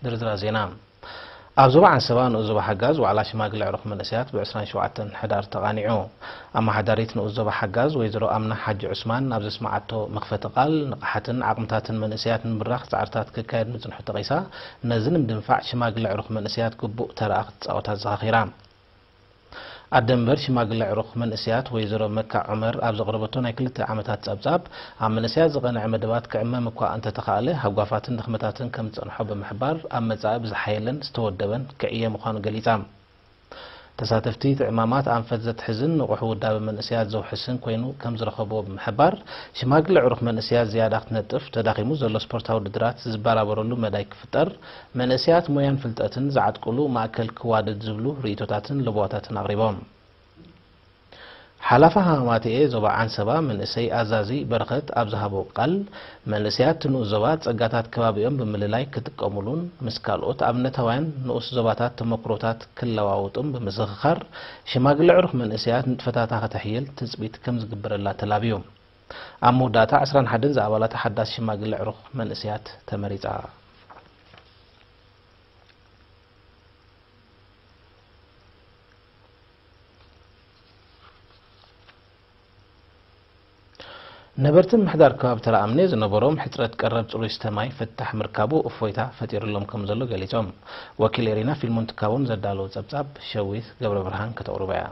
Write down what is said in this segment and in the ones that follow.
ድርድራ ዜና ኣብ ዞባ ዓንሰባ ንኡስ ዞባ ሓጋዝ ዋዕላ ሽማግለ ኣዕሩኽ መንእሰያት ብ ዕስራን ሸውዓተን ሕዳር ተቓኒዑ። ኣመሓዳሪት ንኡስ ዞባ ሓጋዝ ወይዘሮ ኣምና ሓጂ ዑስማን ኣብ ዘስመዓቶ መኽፈቲ ቃል፣ ንቕሓትን ዓቕምታትን መንእሰያት ንምብራኽ ጻዕርታት ክካየድ ምጽንሑ ጠቒሳ፣ ነዚ ንምድንፋዕ ሽማግለ ኣዕሩኽ መንእሰያት ግቡእ ተራኣ ክትጻወት ኣዘኻኺራ። ኣደ እምበር ሽማግለ ዕሩኽ መንእሰያት ወይዘሮ መካ ዑመር ኣብ ዘቕረበቶ ናይ ክልተ ዓመታት ጸብጻብ፣ ኣብ መንእሰያት ዝቐንዐ መደባት ክዕመም እኳ እንተተኻእለ፣ ሃጓፋትን ድኽመታትን ከም ዝጸንሖ ብምሕባር፣ ኣብ መጻኢ ብዝሓየለን ዝተወደበን ክዕየ ምዃኑ ገሊጻ። ተሳተፍቲ እቲ ዕማማት ኣንፈት ዘትሕዝን ንቑሕ ውዳበ መንእሰያት ዘውሕስን ኮይኑ ከም ዝረኸብዎ ብምሕባር፣ ሽማግለ ዕሩኽ መንእሰያት ዝያዳ ክትነጥፍ፣ ተዳኺሙ ዘሎ ስፖርታዊ ውድድራት ዝበራበረሉ መዳይ ክፍጠር፣ መንእሰያት ሞያን ፍልጠትን ዝዓጥቁሉ ማእከል ክዋደድ ዝብሉ ርእይቶታትን ለበዋታትን ኣቕሪቦም። ሓላፊ ሃማማተኤ ዞባ ዓንሰባ መንእሰይ ኣዛዚ በረኸት ኣብ ዝሃቦ ቃል፣ መንእሰያት'ቲ ንኡስ ዞባ ጸጋታት ከባቢኦም ብምልላይ ክጥቀሙሉን ምስ ካልኦት ኣብነታውያን ንኡስ ዞባታት ተመኩሮታት ክለዋወጡን ብምዝኽኻር፣ ሽማግለ ዕሩኽ መንእሰያት ንጥፈታታ ከተሕይል ትጽቢት ከምዝግበረላ ተላብዩ። ኣብ መወዳእታ ዕስራን ሓደን ዝኣባላታ ሓዳስ ሽማግለ ኣዕሩኽ መንእሰያት ተመሪጻ። ነበርቲ ምምሕዳር ከባቢ ተራኣምኔ ዝነበሮም ሕፅረት ቀረብ ፅሩይ ስተ ማይ ፍታሕ ምርካቡ እፎይታ ፈጢሩሎም ከም ዘሎ ገሊፆም። ወኪል ኤሪና ፊልሞን ትካቦም ዘዳለዎ ፀብፃብ ሸዊት ገብረብርሃን ከተቕርቦ እያ።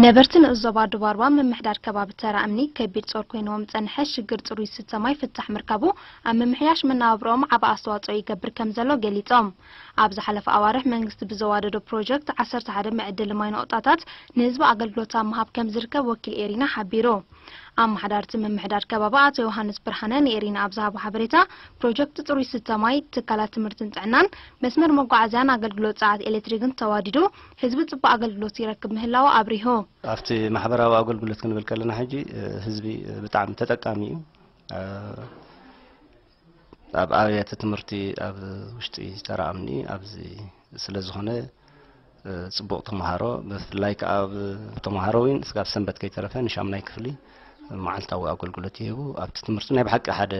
ነበርቲ ንኡስ ዞባ ዱባርባ ምምሕዳር ከባቢ ተራ እምኒ ከቢድ ጾር ኮይንዎም ዝጸንሐ ሽግር ጽሩይ ዝስተ ማይ ፍታሕ ምርካቡ ኣብ ምምሕያሽ መነባብሮኦም ዓቢ ኣስተዋጽኦ ይገብር ከምዘሎ ገሊጾም። ኣብ ዝሓለፈ ኣዋርሕ መንግስቲ ብዘዋደዶ ፕሮጀክት ዓሰርተ ሓደ መዐደሊ ማይ ነቑጣታት ንህዝቢ ኣገልግሎት ኣብ ምሃብ ከምዝርከብ ወኪል ኤሪና ሓቢሩ። ኣመሓዳሪ'ቲ ምምሕዳር ከባቢ ኣቶ ዮሃንስ ብርሃነ ንኤሪና ኣብ ዝሃቦ ሓበሬታ ፕሮጀክት ጽሩይ ዝስተ ማይ ትካላት ትምህርትን ጥዕናን መስመር መጓዓዝያን ኣገልግሎት ጸዓት ኤሌክትሪክን ተዋዲዱ ህዝቢ ፅቡቕ ኣገልግሎት ይረክብ ምህላዉ ኣብሪሁ። ኣብቲ ማሕበራዊ ኣገልግሎት ክንብል ከለና ሕጂ ህዝቢ ብጣዕሚ ተጠቃሚ እዩ። ኣብ ኣብያተ ትምህርቲ ኣብ ውሽጢ ተራ ኣምኒ ኣብዚ ስለ ዝኾነ ፅቡቕ ተምሃሮ ብፍላይ ከዓ ኣብ ተምሃሮ እውን ስጋብ ሰንበት ከይተረፈ ንሻምናይ ክፍሊ መዓልታዊ ኣገልግሎት ይህቡ ኣብቲ ትምህርቲ ናይ ብሓቂ ሓደ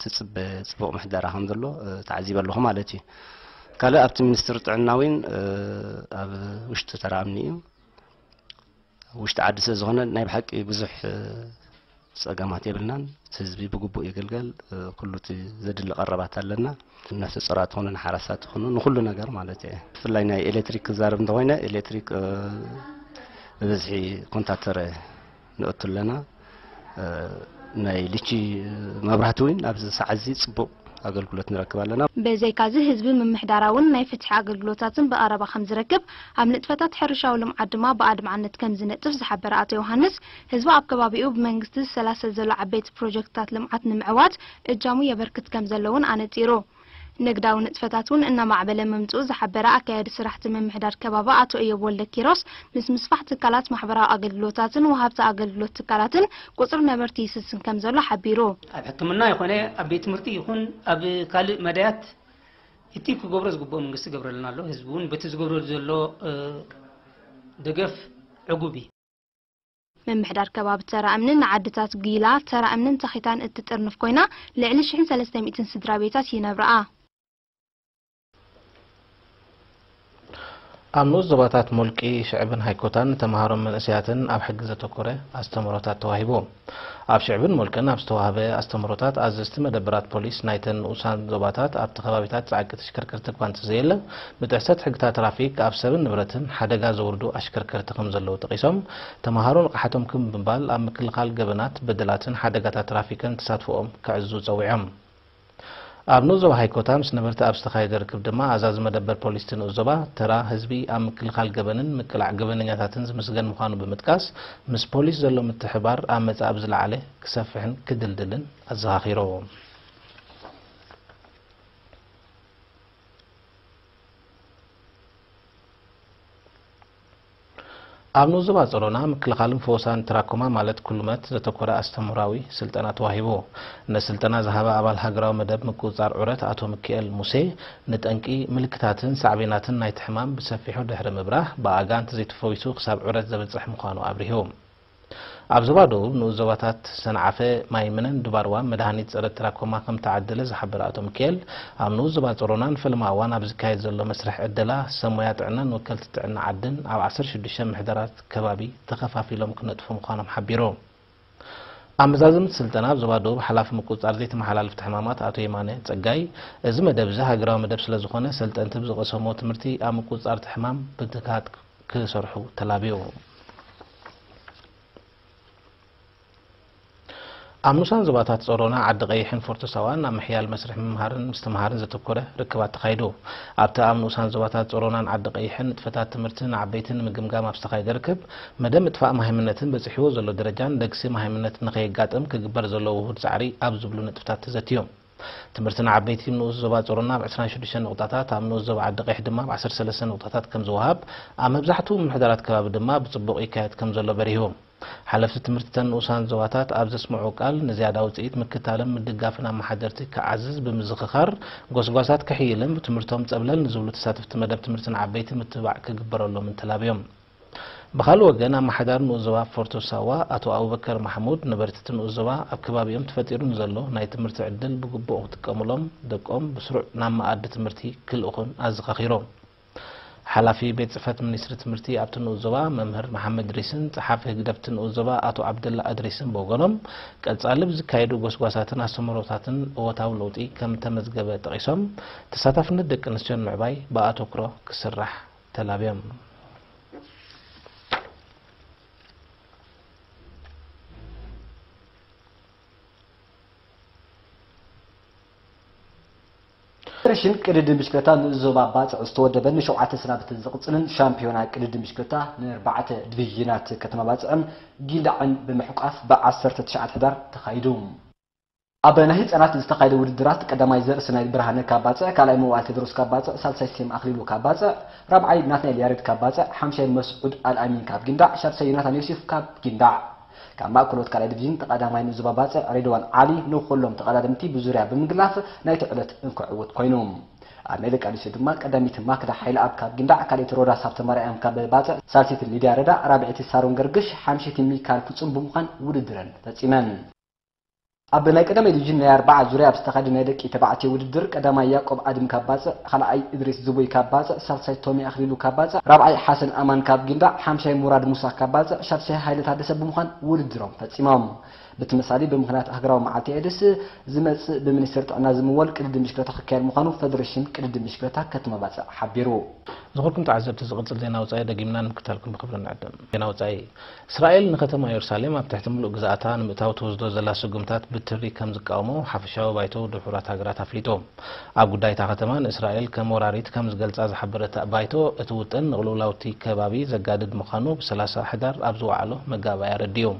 ትጽበ ጽቡቕ ምሕደራ ከም ዘሎ ተዓዚበ ኣለኹ ማለት እዩ ካልእ ኣብቲ ሚኒስትሪ ጥዕና እውን ኣብ ውሽጢ ተራኣምኒ እዩ ውሽጢ ዓዲ ስለ ዝኾነ ናይ ብሓቂ ብዙሕ ፀገማት የብልናን እቲ ህዝቢ ብግቡእ የገልገል ኩሉ እቲ ዘድሊ ቀረባት ኣለና ነፍሲ ጾራት ሆኑ ንሓራሳት ሆኑ ንኩሉ ነገር ማለት እየ ብፍላይ ናይ ኤሌክትሪክ ክዛረብ እንተኮይነ ኤሌክትሪክ ብብዝሒ ኮንታክተረ ንእቱ ኣለና ናይ ልቺ መብራህቲ እውን ኣብዚ ሰዓት እዚ ፅቡቕ ኣገልግሎት ንረክብ ኣለና። ብዘይካዚ ህዝቢ ምምሕዳራውን ናይ ፍትሒ ኣገልግሎታትን ብቐረባ ከምዝረክብ፣ ኣብ ንጥፈታት ሕርሻዊ ልምዓት ድማ ብኣድማዕነት ከምዝነጥፍ ዝሓበረ ኣቶ ዮውሃንስ፣ ህዝቢ ኣብ ከባቢኡ ብመንግስቲ ዝሰላሰል ዘሎ ዓበይቲ ፕሮጀክትታት ልምዓት ንምዕዋት እጃሙ የበርክት ከምዘሎ እውን ኣነፂሩ። ንግዳዊ ንጥፈታት እውን እናማዕበለ ምምፅኡ ዝሓበረ ኣካያዲ ስራሕቲ ምምሕዳር ከባቢ ኣቶ እዮብ ወልደኪሮስ፣ ምስ ምስፋሕ ትካላት ማሕበራዊ ኣገልግሎታትን ወሃብቲ ኣገልግሎት ትካላትን ቁፅሪ ነበርቲ ይስስን ከምዘሎ ሓቢሩ። ኣብ ሕክምና ይኾነ ኣብ ቤት ትምህርቲ ይኹን ኣብ ካልእ መዳያት እቲ ክገብሮ ዝግብኦ መንግስቲ ይገብረልና ኣሎ። ህዝቢ እውን በቲ ዝገብረሉ ዘሎ ደገፍ ዕጉብ እዩ። ምምሕዳር ከባቢ ተራ እምኒ ንዓድታት ጒላ፣ ተራ እምንን ተኺታን እትጥርንፍ ኮይና ልዕሊ ሽሕን ሰለስተ ሚእትን ስድራቤታት ይነብርኣ። ኣብ ንኡስ ዞባታት ሞልቂ፣ ሽዕብን ሃይኮታን ንተመሃሮን መንእሰያትን ኣብ ሕጊ ዘተኮረ ኣስተምህሮታት ተዋሂቡ። ኣብ ሽዕብን ሞልቅን ኣብ ዝተዋህበ ኣስተምህሮታት ኣዘዝቲ መደበራት ፖሊስ ናይተን ንኡሳን ዞባታት ኣብቲ ከባቢታት ጸዕቂ ተሽከርከርቲ እኳ እንተዘየለ፣ ብጥሕሰት ሕግታት ትራፊክ ኣብ ሰብን ንብረትን ሓደጋ ዘውርዱ ኣሽከርከርቲ ከምዘለዉ ጠቒሶም፣ ተመሃሮ ንቕሓቶም ክብ ብምባል ኣብ ምክልኻል ገበናት፣ በደላትን ሓደጋታት ትራፊክን ተሳትፎኦም ከዕዝዙ ፀዊዖም። ኣብ ንኡስ ዞባ ሃይኮታ ምስ ነበርቲ ኣብ ዝተኻየደ ርክብ ድማ ኣዛዚ መደበር ፖሊስ'ቲ ንኡስ ዞባ፣ ተራ ህዝቢ ኣብ ምክልኻል ገበንን ምቅላዕ ገበነኛታትን ዝምስገን ምዃኑ ብምጥቃስ፣ ምስ ፖሊስ ዘሎ ምትሕብባር ኣብ መፃኢ ብዝለዓለ ክሰፍሕን ክድልድልን ኣዘኻኺሮም። ኣብ ንዙባ ጸሎና ምክልኻልን ፈወሳን ትራኮማ ማለት ኩሉመት ዘተኮረ ኣስተምህራዊ ስልጠና ተዋሂቡ። ነዚ ስልጠና ዝሃበ ኣባል ሃገራዊ መደብ ምቁጽጻር ዑረት ኣቶ ምኪኤል ሙሴ፣ ንጠንቂ፣ ምልክታትን ሳዕቤናትን ናይቲ ሕማም ብሰፊሑ ድሕሪ ምብራህ፣ ብኣጋንንቲ ዘይተፈዊሱ ክሳብ ዑረት ዘብጽሕ ምዃኑ ኣብሪሁ። ኣብ ዞባ ደቡብ ንኡስ ዞባታት ሰንዓፈ፣ ማይምነን ድባርዋን መድሃኒት ጸረ ትራኮማ ከምተዓደለ ዝሓበረ ኣቶ ምኪኤል፣ ኣብ ንኡስ ዞባ ጸሮና ንፈለማ እዋን ኣብ ዝካየድ ዘሎ መስርሕ ዕደላ፣ ሰብ ሞያ ጥዕናን ወከልቲ ጥዕና ዓድን ኣብ ዓሰርተ ሽዱሽተ ምሕደራት ከባቢ ተኸፋፊሎም ክነጥፉ ምዃኖም ሓቢሩ። ኣብ መዛዘምቲ ስልጠና ኣብ ዞባ ደቡብ ሓላፊ ምቁጽጻር ዘይተመሓላለፍቲ ሕማማት ኣቶ የማነ ጸጋይ፣ እዚ መደብ እዚ ሃገራዊ መደብ ስለዝኾነ ሰልጠንቲ ብዝቐሰምዎ ትምህርቲ ኣብ ምቁጽጻር እቲ ሕማም ብትግሃት ክሰርሑ ተላብዮም። ኣብ ንኡሳን ዞባታት ጸሮና፣ ዓዲ ቐይሕን ፎርቶ ሳዋን ኣብ ምሕያል መስርሕ ምምሃርን ምስትምሃርን ዘተኮረ ርክብ ኣተኻይዱ። ኣብቲ ኣብ ንኡሳን ዞባታት ጸሮናን ዓዲ ቐይሕን ንጥፈታት ትምህርቲ ንዓበይቲ ንምግምጋም ኣብ ዝተኻየደ ርክብ፣ መደብ ምጥፋእ መሃይምነትን በጺሕዎ ዘሎ ደረጃን ደግሲ መሃይምነት ንኸየጋጥም ክግበር ዘለዎ ውሁድ ጻዕሪ ኣብ ዝብሉ ነጥብታት ተዘትዮም። ትምህርቲ ንዓበይቲ ንኡስ ዞባ ጾሮና ብ ዕስራን ሽዱሽተን ንቑጣታት፣ ኣብ ንኡስ ዞባ ዓዲ-ቚሕ ድማ ብ ዓሰርተ ሰለስተ ንቑጣታት ከም ዝወሃብ፣ ኣብ መብዛሕትኡ ምምሕዳራት ከባቢ ድማ ብጽቡቕ ይካየድ ከም ዘሎ በሪሁ። ሓለፍቲ ትምህርቲ እተን ንኡሳን ዞባታት ኣብ ዘስምዕዎ ቃል፣ ንዝያዳ ውጽኢት ምክታልን ምድጋፍን ኣመሓደርቲ ክዓዝዝ ብምዝኽኻር፣ ጎስጓሳት ክሕይልን ብትምህርቶም ጸብለል ንዝብሉ ተሳተፍቲ መደብ ትምህርቲ ንዓበይቲ ምትብባዕ ክግበረሎምን ተላብዮም። ብኻልእ ወገን ኣመሓዳሪ ንኡስ ዞባ ፎርቶ ሳዋ ኣቶ ኣቡበከር ማሕሙድ ነበርቲ'ቲ ንኡስ ዞባ ኣብ ከባቢኦም ተፈጢሩ ንዘሎ ናይ ትምህርቲ ዕድል ብግቡእ ክጥቀሙሎም ደቆም ብስሩዕ ናብ መኣዲ ትምህርቲ ክልእኹን ኣዘኻኺሮም። ሓላፊ ቤት ፅሕፈት ሚኒስትሪ ትምህርቲ ኣብቲ ንኡስ ዞባ መምህር መሓመድ ድሪስን ፀሓፊ ህግደፍ'ቲ ንኡስ ዞባ ኣቶ ዓብደላ እድሪስን ብወገኖም ቀፃሊ ብዝካየዱ ጎስጓሳትን ኣስተምህሮታትን እወታዊ ለውጢ ከምእተመዝገበ ጠቒሶም ተሳታፍነት ደቂ ኣንስትዮ ንምዕባይ ብኣተኩሮ ክስራሕ ተላብያም ፌደሬሽን ቅድድም ብሽክለታ ንኡስ ዞባ ባጽዕ ዝተወደበን ንሸውዓተ ሰናብትን ዝቕጽልን ሻምፒዮና ቅድድም ብሽክለታ ንኣርባዕተ ዲቪዥናት ከተማ ባጽዕን ጊንዳዕን ብምሕቋፍ ብዓሰርተ ትሽዓተ ሕዳር ተኻይዱ። ኣብ ናይ ህጻናት ዝተኻየደ ውድድራት ቀዳማይ ዘር ስናይል ብርሃነ ካብ ባጽዕ፣ ካልኣይ መዋእል ቴድሮስ ካብ ባጽዕ፣ ሳልሳይ ሴም ኣኽሊሉ ካብ ባጽዕ፣ ራብዓይ ናትናኤል ያሬድ ካብ ባጽዕ፣ ሓምሻይ መስዑድ ኣልኣሚን ካብ ጊንዳዕ፣ ሻድሻይ ዮናታን ዮሴፍ ካብ ጊንዳዕ። ካብ ማእከሎት ካልኣይ ዲቪዥን ተቐዳማይ ንዞባ ባጽዕ ሬድዋን ዓሊ ንኹሎም ተቐዳደምቲ ብዙርያ ብምግላፍ ናይቲ ዕለት እንኮ ዕውት ኮይኑ። ኣብ ናይ ደቂ ኣንስትዮ ድማ ቀዳመይቲ ማክዳ ሓይልኣብ ካብ ጊንዳዕ፣ ካልኣይቲ ሮዳስ ሃብተማርያም ካብ ባጽዕ፣ ሳልሰይቲ ሊድያ ረዳ፣ ራብዐይቲ ሳሮን ገርግሽ፣ ሓምሸይቲ ሚካል ፍጹም ብምዃን ውድድረን ፈጺመን። ኣብ ናይ ቀዳማይ ዲቪዥን ናይ ኣርብዓ ዙርያ ኣብ ዝተኻየደ ናይ ደቂ ተባዕትዮ ውድድር ቀዳማይ ያቆብ ኣድም ካብ ባጽዕ፣ ካልኣይ እድሪስ ዝቡይ ካብ ባጽዕ፣ ሳልሳይ ቶሚ ኣኽሊሉ ካብ ባጽዕ፣ ራብዓይ ሓሰን ኣማን ካብ ጊንዳዕ፣ ሓምሻይ ሙራድ ሙሳ ካብ ባጽዕ፣ ሻድሻይ ሃይለ ታደሰ ብምዃን ውድድሮም ፈጺሞም። ብትመሳሊ ብምኽንያት ሃገራዊ መዓልቲ ኤድስ ዝመጽእ ብሚኒስቴር ጥዕና ዝምወል ቅድድም ብሽክለታ ክካየድ ምዃኑ ፈደሬሽን ቅድድም ብሽክለታ ከተማ ባጽዕ ሓቢሩ። ዝኸበርኩም ተዓዘብቲ ዝቕጽል ዜና ወጻኢ ደጊምና ንምክትታልኩም ብኽብሪ ንዕድም። ዜና ወጻኢ። እስራኤል ንከተማ የሩሳሌም ኣብ ትሕቲ ምሉእ ግዝኣታ ንምእታው ትወስዶ ዘላ ስጉምታት ብትሪ ከም ዝቃወሞ ሓፈሻዊ ባይቶ ውድብ ሕቡራት ሃገራት ኣፍሊጡ። ኣብ ጉዳይ እታ ከተማ ንእስራኤል ከም ወራሪት ከም ዝገልጻ ዝሓበረ እቲ ባይቶ፣ እቲ ውጥን ንቕልውላው'ቲ ከባቢ ዘጋድድ ምዃኑ ብ ሰላሳ ሕዳር ኣብ ዝወዓሎ መጋባእያ ኣረዲኡ።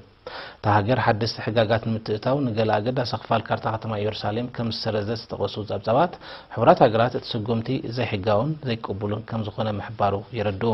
እታ ሃገር ሓደስቲ ሕጋጋት ንምትእትታው ንገለ ኣገዳሲ ክፋል ካርታ ከተማ የሩሳሌም ከም ዝሰረዘት ዝጠቐሱ ጸብጻባት፣ ሕቡራት ሃገራት እቲ ስጉምቲ ዘይሕጋውን ዘይቅቡልን ከም ዝኾነ ምሕባሩ የረድኡ።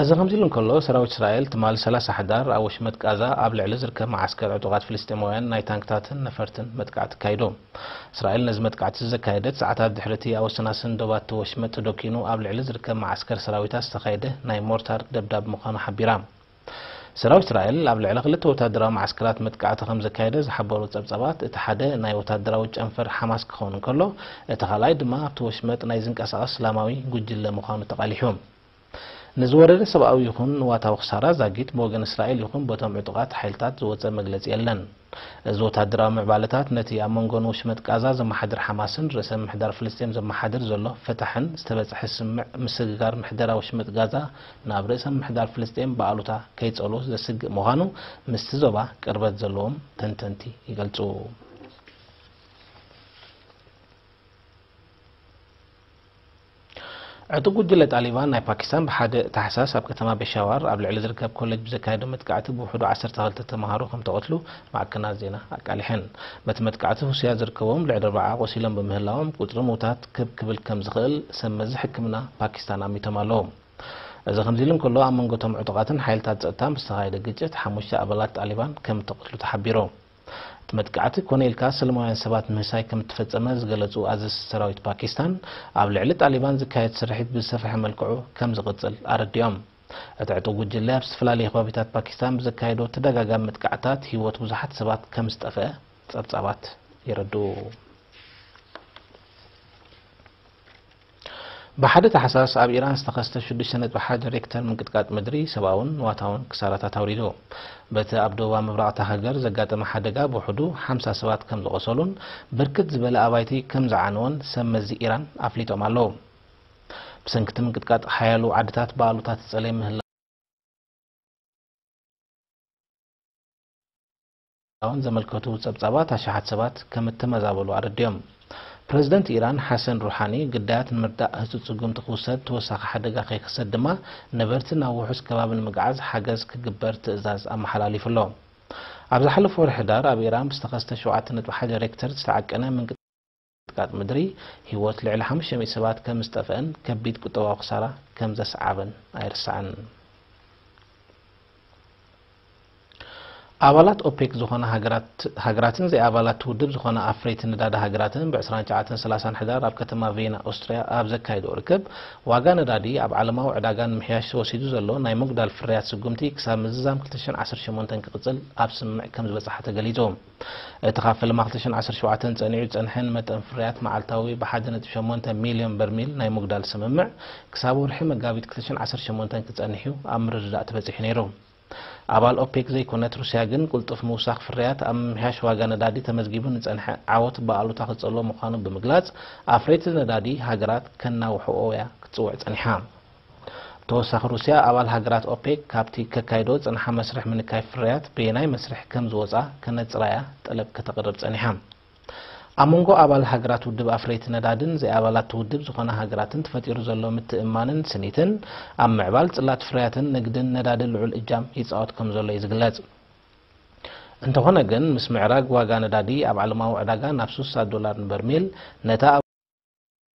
እዚ ከምዚሉ እንከሎ፣ ሰራዊት እስራኤል ትማል ሰላሳ ሕዳር ኣብ ወሽመጥ ቃዛ ኣብ ልዕሊ ዝርከብ መዓስከር ዕጡቓት ፍልስጤማውያን ናይ ታንክታትን ነፈርትን መጥቃዕቲ ኣካይዱ። እስራኤል ነዚ መጥቃዕቲ'ዚ ዘካየደት ሰዓታት ድሕሪ'ቲ ኣብ ወሰናስን ዶባት'ቲ ወሽመጥ ዶኪኑ ኣብ ልዕሊ ዝርከብ መዓስከር ሰራዊታ ዝተኻየደ ናይ ሞርታር ደብዳብ ምዃኑ ሓቢራ። ሰራዊት እስራኤል ኣብ ልዕሊ ክልተ ወታደራዊ መዓስከራት መጥቃዕቲ ከምዘካየደ ዝሓበሩ ጸብጻባት፣ እቲ ሓደ ናይ ወታደራዊ ጨንፈር ሓማስ ክኸውን እንከሎ፣ እቲ ካልኣይ ድማ ኣብቲ ወሽመጥ ናይ ዝንቀሳቐስ እስላማዊ ጉጅለ ምዃኑ ተቓሊሑ። ንዝወረደ ሰብኣዊ ይኹን ንዋታዊ ክሳራ ዛጊት ብወገን እስራኤል ይኹን በቶም ዕጡቓት ሓይልታት ዝወጸ መግለጺ የለን። እዚ ወተሃደራዊ ምዕባለታት ነቲ ኣብ መንጎ ንወሽመጥ ቃዛ ዘመሓድር ሓማስን ርእሰ ምምሕዳር ፍልስጤም ዘመሓድር ዘሎ ፈታሕን ዝተበጽሐ ስምምዕ ምስግጋር ምሕደራ ወሽመጥ ጋዛ ናብ ርእሰ ምምሕዳር ፍልስጤም ብኣሉታ ከይጸልዎ ዘስግእ ምዃኑ ምስቲ ዞባ ቅርበት ዘለዎም ተንተንቲ ይገልጹ። ዕጡቕ ጉጅለ ጣሊባን ናይ ፓኪስታን ብ ሓደ ታሕሳስ ኣብ ከተማ ፔሻዋር ኣብ ልዕሊ ዝርከብ ኮለጅ ብዘካየዶ መጥቃዕቲ ብውሕዱ ዓሰርተ ክልተ ተምሃሮ ከምተቐትሉ ማዕከናት ዜና ኣቃሊሐን። በቲ መጥቃዕቲ ህሱያት ዝርከብዎም ልዕሊ ኣርብዓ ቆሲሎም ብምህላዎም ቁጽሪ ምውታት ክብ ክብል ከምዝኽእል ሰብ መዚ ሕክምና ፓኪስታን ኣሚቶም ኣለዉ። እዚ ከምዚሉ እንከሎ ኣብ መንጎ እቶም ዕጡቓትን ሓይልታት ጸጥታን ብዝተኻየደ ግጭት ሓሙሽተ ኣባላት ጣሊባን ከምተቐትሉ ተሓቢሩ። እቲ መጥቃዕቲ ኮነ ኢልካ ሰለማውያን ሰባት ምህሳይ ከም እተፈጸመ ዝገለጹ ኣዘዝቲ ሰራዊት ፓኪስታን፣ ኣብ ልዕሊ ጣሊባን ዝካየድ ስርሒት ብዝሰፍሐ መልክዑ ከም ዝቕጽል ኣረዲኦም። እቲ ዕጡቕ ጉጅለ ኣብ ዝተፈላለየ ከባቢታት ፓኪስታን ብዘካየዶ ተደጋጋሚ መጥቃዕትታት ህይወት ብዙሓት ሰባት ከም ዝጠፍአ ጸብጻባት የረድኡ። ብሓደ ታሕሳስ ኣብ ኢራን ዝተኸስተ ሽዱሽተ ነጥቢ ሓደ ሬክተር ምንቅጥቃጥ ምድሪ ሰብኣውን ንዋታውን ክሳራታት ኣውሪዱ። በቲ ኣብ ደቡባዊ ምብራቕ እታ ሃገር ዘጋጠመ ሓደጋ ብውሕዱ ሓምሳ ሰባት ከም ዝቖሰሉን ብርክት ዝበለ ኣባይቲ ከም ዝዓነወን ሰብ መዚ ኢራን ኣፍሊጦም ኣለዉ። ብሰንኪ እቲ ምንቅጥቃጥ ሓያሎ ዓድታት ብኣሉታ ትጸለይ ምህላወን። ን ዘመልከቱ ጸብጻባት ኣሽሓት ሰባት ከም እተመዛበሉ ኣረዲኦም። ፕረዚደንት ኢራን ሓሰን ሩሓኒ፣ ግዳያት ንምርዳእ ህጹጽ ስጉምቲ ክውሰድ፣ ተወሳኺ ሓደጋ ከይክሰት ድማ ነበርቲ ናብ ውሑስ ከባቢ ንምግዓዝ ሓገዝ ክግበር ትእዛዝ ኣመሓላሊፉ ኣሎ። ኣብ ዝሓለፈ ወርሒ ሕዳር ኣብ ኢራን ብዝተኸስተ ሸውዓተ ነጥቢ ሓደ ሬክተር ዝተዓቀነ ምንቅጥቃጥ፣ ምንቅጥቃጥ ምድሪ፣ ህይወት ልዕሊ ሓሙሽተ ሚእቲ ሰባት ከም ዝጠፍአን ከቢድ ቁጠባዊ ክሳራ ከም ዘስዓበን ኣይርሳዕን። ኣባላት ኦፔክ ዝኾና ሃገራትን ዘይኣባላት'ቲ ውድብ ዝኾና ኣፍረይቲ ነዳዲ ሃገራትን ብ ዕስራን ትሽዓተን ሰላሳን ሕዳር ኣብ ከተማ ቬና ኦስትርያ ኣብ ዘካይድኦ ርክብ ዋጋ ነዳዲ ኣብ ዓለማዊ ዕዳጋ ንምምሕያሽ ተወሲዱ ዘሎ ናይ ምጉዳል ፍርያት ስጉምቲ ክሳብ ምዝዛም ክልተ ሽሕን ዓሰርተ ሸሞንተን ክቕጽል ኣብ ስምምዕ ከም ዝበጽሓ ተገሊጹ። እቲ ካብ ፈለማ ክልተ ሽሕን ዓሰርተ ሸውዓተን ጸኒዑ ዝጸንሐ ንመጠን ፍርያት መዓልታዊ ብሓደ ነጥቢ ሸሞንተ ሚልዮን በርሚል ናይ ምጉዳል ስምምዕ ክሳብ ወርሒ መጋቢት ክልተ ሽሕን ዓሰርተ ሸሞንተን ክጸንሕ'ዩ ኣብ ምርድዳእ ተበጺሑ ነይሩ። ኣባል ኦፔክ ዘይኮነት ሩስያ ግን ቅልጡፍ ምውሳኽ ፍርያት ኣብ ምምሕያሽ ዋጋ ነዳዲ ተመዝጊቡ ንጸንሐ ዓወት ብኣሉታ ክጸልዎ ምዃኑ ብምግላጽ ኣፍረይቲ ነዳዲ ሃገራት ከናውሕኦ'ያ ክትጽውዕ ጸኒሓ። ብተወሳኺ ሩስያ ኣባል ሃገራት ኦፔክ ካብቲ ከካይዶ ዝጽንሓ መስርሕ ምንካይ ፍርያት በየናይ መስርሕ ከም ዝወጽኣ ከነጽራ እያ ጠለብ ከተቕርብ ጸኒሓ። ኣብ መንጎ ኣባል ሃገራት ውድብ ኣፍረይቲ ነዳድን ዘይኣባላት'ቲ ውድብ ዝኾና ሃገራትን ተፈጢሩ ዘሎ ምትእምማንን ስኒትን ኣብ ምዕባል ጽላት ፍርያትን ንግድን ነዳዲ ልዑል እጃም ይጻወት ከም ዘሎ እዩ ዝግለጽ። እንተኾነ ግን ምስ ምዕራግ ዋጋ ነዳዲ ኣብ ዓለማዊ ዕዳጋ ናብ ስሳ ዶላር ንበርሚል ነታ ኣብ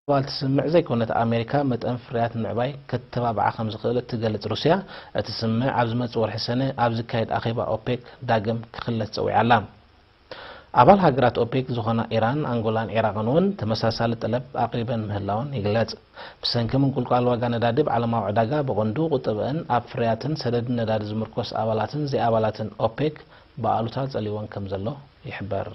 ጓል ትስምዕ ዘይኮነት ኣሜሪካ መጠን ፍርያት ምዕባይ ከተባብዓ ከምዝኽእል እትገልጽ ሩስያ፣ እቲ ስምምዕ ኣብ ዝመጽእ ወርሒ ሰነ ኣብ ዝካየድ ኣኼባ ኦፔክ ዳግም ክኽለስ ጸዊዓ ኣላ። ኣባል ሃገራት ኦፔክ ዝኾና ኢራን፣ ኣንጎላን ዒራቕን እውን ተመሳሳሊ ጠለብ ኣቕሪበን ምህላወን ይግለጽ። ብሰንኪ ምንቁልቋል ዋጋ ነዳዲ ኣብ ዓለማዊ ዕዳጋ ብቐንዱ ቁጠበኣን ኣብ ፍርያትን ሰደድን ነዳዲ ዝምርኮስ ኣባላትን ዘይኣባላትን ኦፔክ ብኣሉታ ጸልይወን ከምዘሎ ይሕበር።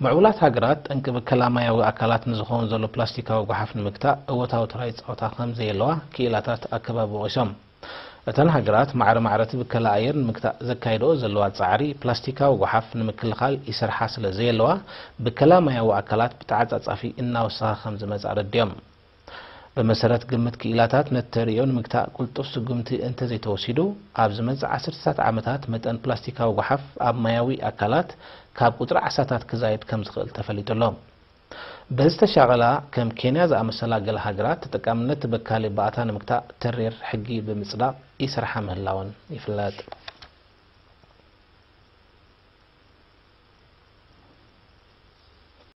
ምዕቡላት ሃገራት ጠንቂ ብከላ ማያዊ ኣካላት ንዝኸውን ዘሎ ፕላስቲካዊ ጓሓፍ ንምግታእ እወታዊ ተራ ይጻወታ ከም ዘየለዋ ክኢላታት ኣከባቢ ወቒሶም። እተን ሃገራት ማዕረ ማዕረ እቲ ብከላ ኣየር ንምግታእ ዘካይድኦ ዘለዋ ጻዕሪ ፕላስቲካዊ ጓሓፍ ንምክልኻል ይሰርሓ ስለ ዘየለዋ ብከላ ማያዊ ኣካላት ብተዓጻጻፊ እናወሰኸ ከም ዝመጽእ ኣረዲኦም። ብመሰረት ግምት ክኢላታት ነቲ ተርእዮ ንምግታእ ቅልጡፍ ስጉምቲ እንተዘይተወሲዱ ኣብ ዝመጽእ ዓሰርተታት ዓመታት መጠን ፕላስቲካዊ ጎሓፍ ኣብ ማያዊ ኣካላት ካብ ቁጽሪ ዓሳታት ክዛይድ ከምዝኽእል ተፈሊጡ ኣሎ። በዚ ተሻቐላ ከም ኬንያ ዝኣመሰላ ገለ ሃገራት ተጠቃምነት ተበካሊ ባእታ ንምግታእ ተሪር ሕጊ ብምጽዳቕ ይሰርሓ ምህላወን ይፍለጥ።